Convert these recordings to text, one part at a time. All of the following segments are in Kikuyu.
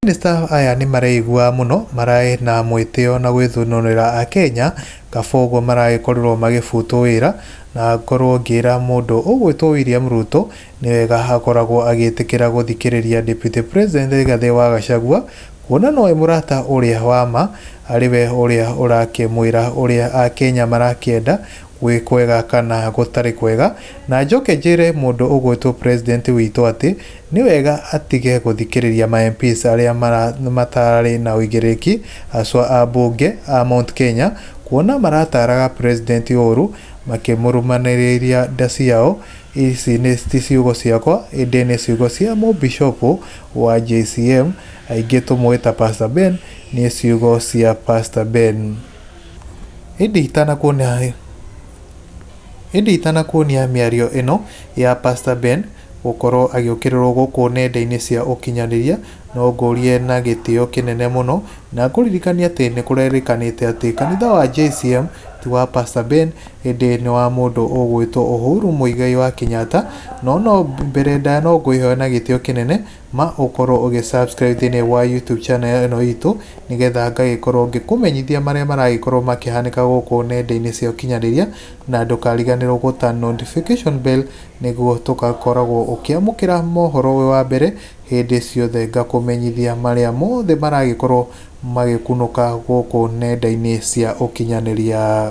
Mamĩnĩsta aya nĩ mareigua mũno maraĩ na mwĩtĩo na gwĩthunũrĩra Akenya, kaba ũguo maragĩkorirwo magĩbutwo wĩra, na ngorwo ngĩra mũndũ ũgwĩtwo William Ruto nĩ wega akoragwo agĩtĩkĩra gũthikĩrĩria Deputy President Rigathi wa Gachagua, kuona nowe mũrata ũrĩa wa ma, arĩ we ũrĩa ũrakĩmwĩra ũrĩa Akenya marakĩenda, wĩ kwega kana gũtarĩ kwega, na njoke njĩre mũndũ ũgwĩtwo president witũ atĩ nĩ wega atige gũthikĩrĩria ma MPs arĩa matarĩ na ũigĩrĩrĩki, haswa a mbunge a Mount Kenya, kuona marataaraga president ũũru makĩmũrumanĩrĩria ndaci yao, ici ti ciugo ciakwa ĩndĩ nĩ ciugo cia mũbicobũ wa JCM, aingĩ tũmũĩ ta Pastor Ben, nĩ ciugo cia Pastor Ben. Ĩndĩ itanakuonia ĩndĩ itanakuonia mĩario ĩno ya Pastor Ben gũkorwo agĩũkĩrĩrwo gũkũ nenda-inĩ cia ũkinyanĩria, no ngũrie na gĩtĩo kĩnene mũno na ngũririkanie atĩ nĩ kũrerĩkanĩte atĩ kanitha wa JCM ti wa Pastor Ben, ĩndĩ nĩ wa mũndũ ũgwĩtwo Uhuru Mũigai wa Kenyatta, no no mbere ndaya no ngwĩhoya na gĩtĩo kĩnene... ma ũkorwo ũgĩ subscribe thĩinĩ wa YouTube channel ĩno itũ nĩgetha ngagĩkorwo ngĩkũmenyithia marĩa maragĩkorwo makĩhanĩka gũkũ nenda-inĩ cia ũkinyanĩria na ndũkariganĩrwo gũta notification bell nĩguo tũgakoragwo ũkĩamũkĩra mohoro wĩ wa mbere hĩndĩ ciothe ngakũmenyithia marĩa mothe maragĩkorwo magĩkunũka gũkũ nenda-inĩ cia ũkinyanĩria.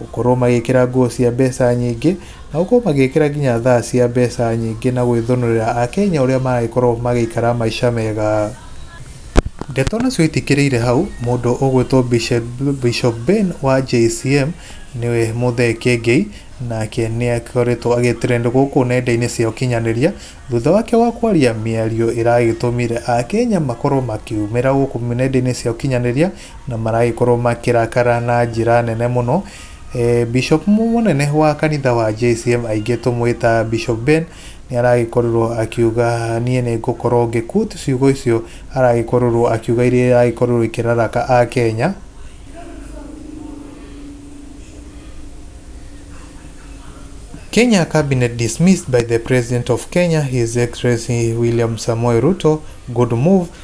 Gũkorwo magĩkĩra nguo cia mbeca nyingĩ, na gũkorwo magĩkĩra nginya thaa cia mbeca nyingĩ na gwĩthũnũrĩra Akenya ũrĩa maragĩkorwo magĩikara maica mega. Ndeto nacio itikĩrĩire hau, mũndũ ũgwĩtwo Bishop Ben wa JCM nĩwe Muthee Kiengei, nake nĩ akoretwo agĩ trend gũkũ nenda-inĩ cia ũkinyanĩria, thutha wake wa kwaria mĩario ĩragĩtũmire Akenya makorwo makiumĩra gũkũ nenda-inĩ cia ũkinyanĩria. na maragĩkorwo makĩrakara na njĩra nene mũno. E, Bishop mũnene wa kanitha wa JCM aingĩ tũmwĩta Bishop Ben nĩ aragĩkorwo akiuga niĩ nĩ ngũkorwo ngĩkut ciugo icio aragĩkorwo akiuga iria iragĩkorwo ikĩraraka a Kenya Kenya cabinet dismissed by the president of Kenya, His Excellency William Samoei Ruto. Good move.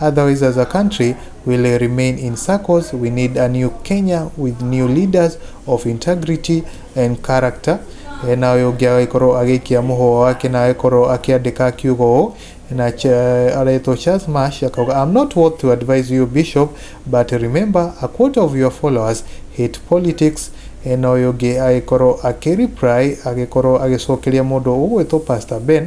Otherwise as a country will remain in circles. We need a new Kenya with new leaders of integrity and character. E, na ũyũ ũngĩ agĩkorwo agĩikia mũhũa wake na agĩkorwo akĩandĩka akiuga ũũ na Ch- aretwo Charles Marsh akauga I'm not worth to advise you bishop but remember a quarter of your followers hate politics E, na ũyũ ũngĩ agĩkorwo akĩreply agĩkorwo agĩcokeria mũndũ ũgwĩtwo Pastor Ben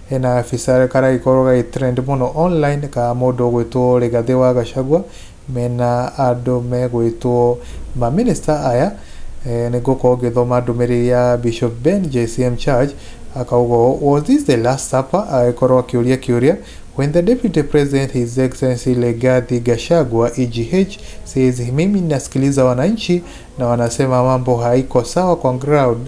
Hena gabica karagĩkorwo gagĩ trend mũno online ka mũndũ ũgwĩtwo Rigathĩ wa Gachagua mena andũ megwĩtwo ma minister aya, nĩngũkorwo ngĩthoma ndũmĩrĩri ya Bishop Ben JCM Church akauga ũũ, Was this the last supper? agagĩkorwo akĩũria kĩũria When the Deputy President His Excellency Rigathi Gachagua EGH says mimi nasikiliza wananchi na wanasema mambo haiko sawa kwa ground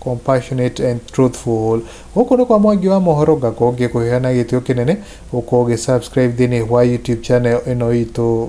compassionate and truthful gũkũ nĩ kwa mwangi wa mohoro ngakorwo ngĩkũhera na gĩtĩo kĩnene ũkorwo ũgĩ subscribe thĩinĩ wa youtube channel ĩno itũ